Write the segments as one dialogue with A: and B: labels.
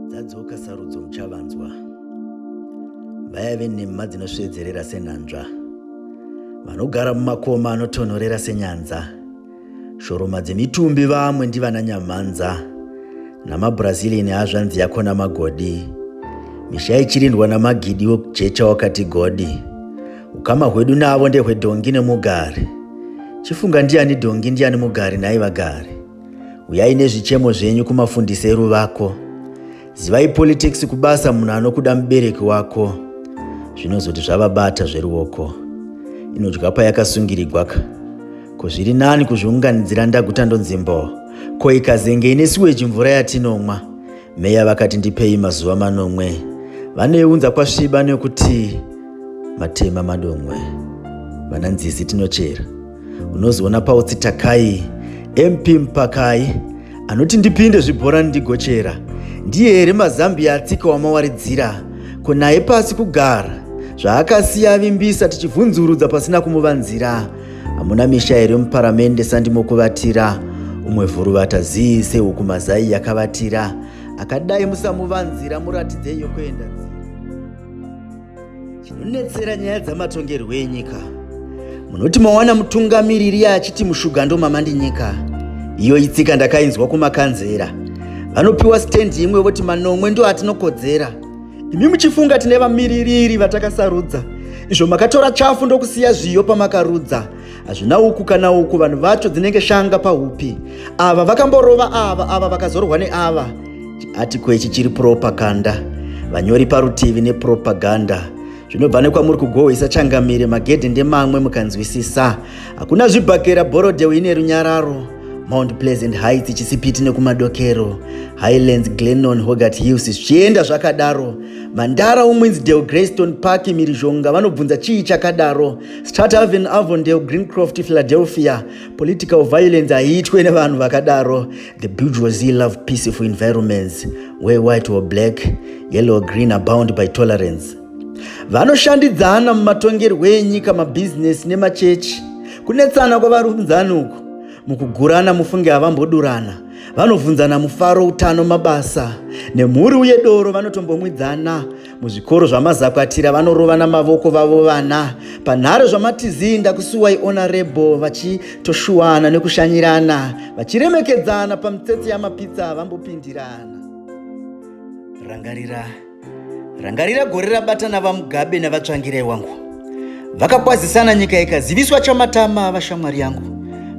A: dzadzoka sarudzo muchavanzwa vayave nhema dzinosvedzerera senhanzva vanogara mumakoma anotonhorera senyanza shoroma dzemitumbi vamwe ndivana nyamhanza namabrazilian hazvanzi yako namagodi misha ichirindwa namagidi wekujecha wakati godi ukama hwedu navo ndehwedhongi nemugari chifunga ndiani dhongi ndiani mugari nhai vagari Uyai nezvichemo zvenyu kumafundisi eruvako. Zivai politics kubasa munhu anokuda mubereki wako. Zvinozoti zvavabata zveruoko. Inodya payakasungirigwa ka. Ko zviri nani kuzviunganidzira ndaguta ndonzi mbo. Ko ikazenge ine siweji mvura yatinomwa. Meya vakati ndipei mazuva manomwe. Vanoiunza kwasviba nekuti matema madomwe. Vana nzizi tinochera. unozoona pautsi takai mp mpakai anoti ndipinde zvibhorani ndigochera ndiye here mazambiya atsika wamawaridzira ko naye pasi kugara zvaakasiya avimbisa tichivhunzurudza pasina kumuvanzira hamuna misha here muparamende sandimokuvatira umwe vhuruvata zii sehuku mazai yakavatira akadai musamuvanzira muratidzei yokuenda chinonetsera nyaya dzamatongerwo enyika munoti mawana mutungamiriri achiti mushuga ndomamandinyika iyo itsika ndakainzwa kumakanzera vanopiwa stendi imwe voti manomwe ndo atinokodzera imi muchifunga tine vamiririri vatakasarudza izvo makatora chafu ndokusiya zviyo pamakarudza hazvina uku kana uku vanhu vacho dzinenge shanga pahupi ava vakamborova ava ava vakazorwa neava chiatiko ichi chiri propaganda vanyori parutivi nepropaganda zvinobva nekwamuri kugohwisa changamire magedhi ndemamwe mukanzwisisa hakuna zvibhakera borodew ine runyararo mount pleasant heights chisipiti nekumadokero highlands glenon hogat hills zvichienda zvakadaro mandara umwinzi del greystone park mirizhonga vanobvunza chii chakadaro Strat Haven, Avondale, Greencroft, Philadelphia. Political violence haiitwe nevanhu vakadaro. The bourgeoisie love peaceful environments where white or black, yellow or green are bound by tolerance. Vanoshandidzana mumatongerwo enyika, mabhizinesi nemachechi. Kunetsana kwavarunzani uku mukugurana mufunge havambodurana vanobvunzana mufaro utano mabasa nemhuri uye doro vanotombomwidzana muzvikoro zvamazakwatira vanorovana mavoko vavo vana panhare zvamatizii ndakusuwai onarebo vachitoshuwana nekushanyirana vachiremekedzana pamitsetse yamapitsa vambopindirana rangarira rangarira gore rabatana vamugabe navatsvangirai wangu vakakwazisana nyika ikaziviswa chamatama vashamwari yangu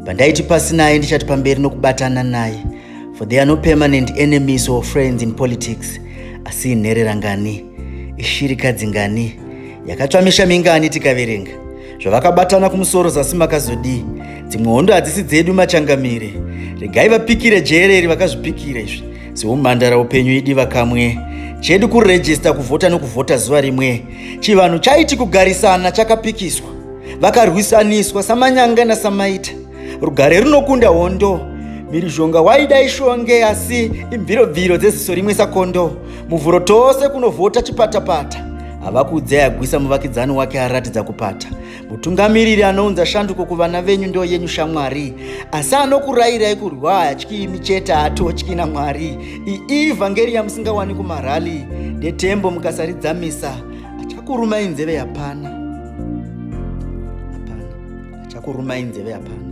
A: pandaiti pasi naye ndichati pamberi nokubatana naye For there are no permanent enemies or friends in politics asi inherera ngani ishirikadzi ngani yakatsva misha mingani tikaverenga zvavakabatana kumusoro zasi makazodii dzimwe hondo hadzisi dzedu machangamire regai vapikire jere iri vakazvipikira izvi seumhandara upenyu idi vakamwe chedu kurejista kuvhota nokuvhota zuva rimwe chivanhu chaiti kugarisana chakapikiswa vakarwisaniswa samanyanga nasamaita rugare runokunda hondo mhirizhonga waida ishonge asi imvirobviro dzeziso rimwe sakondo muvhuro tose kunovhota chipatapata havakudzi ayagwisa muvakidzani wake aratidza kupata mutungamiriri anounza shanduko kuvana venyu ndo yenyu shamwari asi anokurayirai kurwa hayatyi imi chete haatotyi namwari ii vhangeri yamusingawani kumarali ndetembo mukasaridzamisa achakurumai nzeve yapana achakurumai nzeve hapana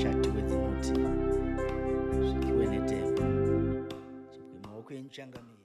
A: chatiwe dzinoti zvikiwe netembo chibwe maoko enyu changamire